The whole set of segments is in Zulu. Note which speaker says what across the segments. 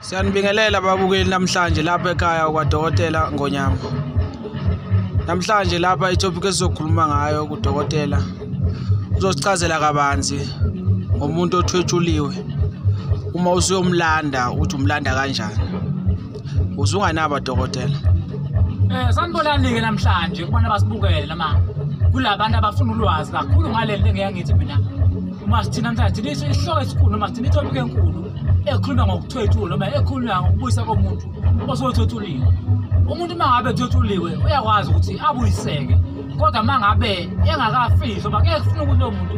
Speaker 1: Siyanibingelela babukeli namhlanje lapha ekhaya kwadokotela Ngonyama. Namhlanje lapha itopic esizokhuluma ngayo kudokotela uzosichazela kabanzi ngomuntu othwetshuliwe uma usuyomlanda uthi umlanda kanjani. Uzunganaba dokotela. Eh
Speaker 2: sanibonani-ke namhlanje kubona basibukele noma kulabantu abafuna ulwazi kakhulu ngaleli lengiyangithi mina uma sithina namhlanje thina isihloko esikhulu noma sithina itopic enkulu ekhuluma ngokuthwethula noma ekhuluma ngokubuyisa komuntu osothwethuliwe umuntu uma ngabe ethwethuliwe uyakwazi ukuthi abuyiseke kodwa uma ngabe engakafihli oba keke kufuna ukuthi lo muntu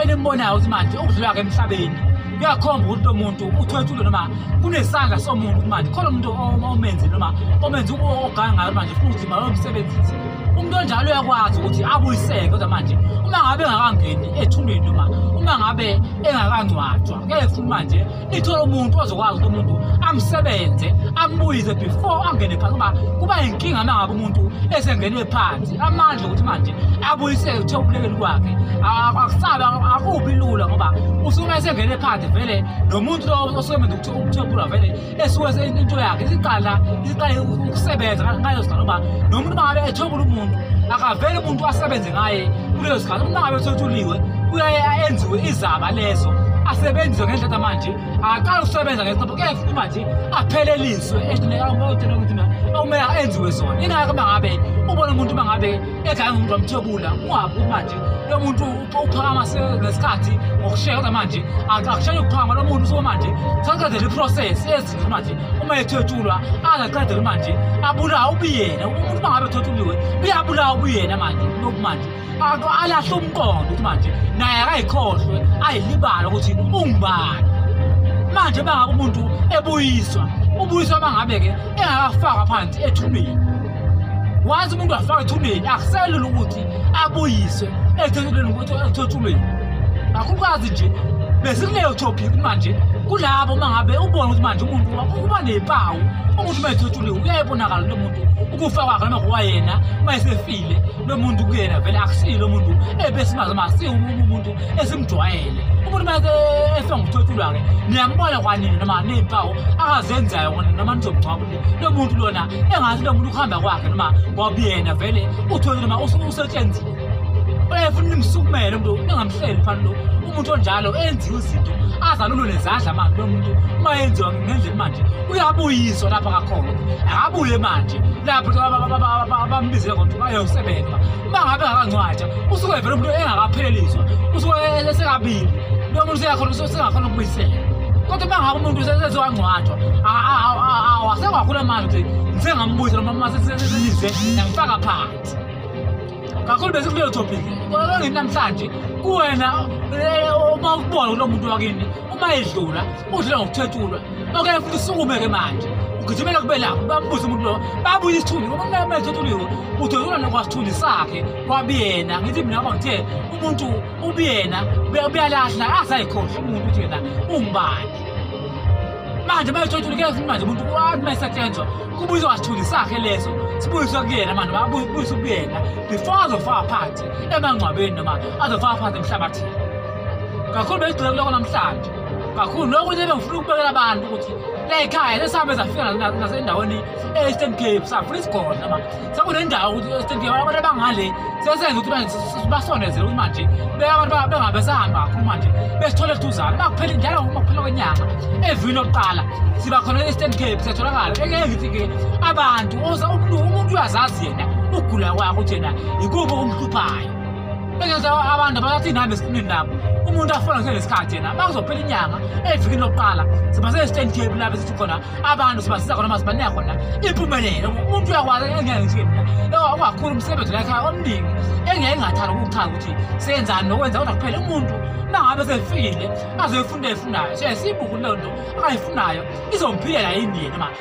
Speaker 2: enimbonayo ukuthi manje ukudlula ke emhlabeni kuyakhomba ukuthi lo muntu uthwethule noma kunesandla somuntu manje khona umuntu omenzi noma omenzi oganga ngayo manje funa ukuthi malomsebenzisi umuntu onjalo uyakwazi ukuthi abuyiseke kodwa manje uma ngabe engakangeni ethuneni noma uma ngabe engakangcwatshwa ngeke futhi manje ithole umuntu ozokwazi ukuthi umuntu amsebenze ambuyize before angene phansi kuba kuba yinkinga mangabe umuntu esengenwe phansi amandla ukuthi manje abuyisele uthe ubulekeli kwakhe akusabe akubi lula ngoba usuke esengene phansi vele nomuntu osebenza ukuthi uthebula vele esiwenze into yakhe isiqala isiqale ukusebenza ngaleso sikhathi ngoba noma umuntu mangabe ethwebula umuntu akavele umuntu asebenze ngaye kuleso sikhathi umuntu mangabe ethwethuliwe kuyaye enziwe izaba leso asebenziswe ngendlela manje akaqala ukusebenza ngesinqobo kepha ukuba nje apheleliswe esinekaokuthi akumele enziwe zona ingakho uma ngabe ubona umuntu uma ngabe ekhaya ngumuntu wamthebula ungabi ukuthi manje lo muntu uphakama ngesikhathi ngokusheka kodwa manje akushaya ukuphakama lo muntu usuke manje saqedela iprocess ezinto manje uma ethethulwa angaqedela manje abulawa ubuyena umuntu uma ngabe ethethuliwe uyabulawa ubuyena manje lokhu manje alahle umqondo ukuthi manje naye akayikhohlwe ayilibala ukuthi ungubani manje bangabe umuntu ebuyiswa ubuyiswa bangabe-ke engakafakwa phansi ethubeni wazi umuntu afaka ethuneni akuselula ukuthi abuyise ethethuleni ukuthi ethethuleni akukwazi nje besikuleyo topic manje kulabo uma ngabe ubona ukuthi manje umuntu uba nempawu umuntu uma ethothuliwe uyayibonakala lo muntu ukufa kwakhe noma kwayena uma esefile lo muntu kuyena vele akusiyo lo muntu ebesimazi uma siyo umuntu esimjwayele umuntu uma efe ngokuthothulwa-ke niyambona kwanini noma ney'mpawu akazenzayo noma nizomngcwabule lo muntu lona engathi lo muntu ukuhamba kwakhe noma wabuyena vele uthole noma usetshenzile uyefuna nimsukumele umuntu engamhleli phani lo umuntu onjalo enziwe izinto azalulwe nezandla manje lo muntu uma yenziwa ngendlela manje uyabuyiswa lapha kakhona akabuye manje lapho abambizile kodwa ayosebenza uma ngabe ngakangcwatsha usuke vele umuntu engakapheleliswa usuke esekabili lo muntu useyakhona usengakhona ukubuyisela kodwa uma ngabe umuntu sezewangcwathwa awasewakhula manje ukuthi ngisengambuza noma uma sesenize ngifaka phansi kakhulu bese kuleyo topic kodwa ngini namhlanje kuwena eh, uma ukubona kulo muntu wakini uma edlula udlula ngokuthethulwa okanye futhi usukume-ke manje ugijimela kube lapho bambuze umuntu lowo babuye isithunzi ngoba kunamanje othuliwe udodona nokwasithunzi sakhe kwabuyena ngithi mina ngoba ngithe umuntu ubuyena buyalahla asayikhohlwa umuntu ukuthi yena ungubani manje bayothothulike futhi manje umuntu wathi mayisetshenzwa kubuyiswa wasithunzi sakhe leso sibuyiswe kuyena manje babuyiswe kuyena before azofaka phansi emangcwabeni noma azofaka phansi emhlabathini kakhulu beyigcile kuloko namhlanje kakhulu nokunye bengifuna ukubekela abantu ukuthi layikhaya lesihambe safika nasendaweni e-eastern cape safuna isigona ma sekunendawo ukuthi e-eastern cape abantu abangale sesenza ukuthi basondezele ukuthi manje beabantu bengabe sahamba kakhulu manje besithole siduzane makuphela njalo makuphela kwenyanga evini lokuqala siba khona e-eastern cape siyatholakala engeke ngithi-ke abantu umuntu uyazazi yena ukugula kwakho ukuthi yena yikuphi okumhluphayo bengeza abantu abasathini hambe esiqinini nabo umuntu afola kusele sikhathi yena bakuzophela inyanga evikini lokuqala sibasele stand cape lapho sithi khona abantu sibasiza khona mase banika khona impumelelo umuntu uyakwazi engeke ngithiye mina lo ungakhulu umsebenzi lakhe omningi engeke ngathanda ukuchaza ukuthi senzani nokwenza kodwa kuphela umuntu nangabe sefikile azoyifunda efundayo so siyibuku leyo nto akayifunayo izomphilela yini yena manje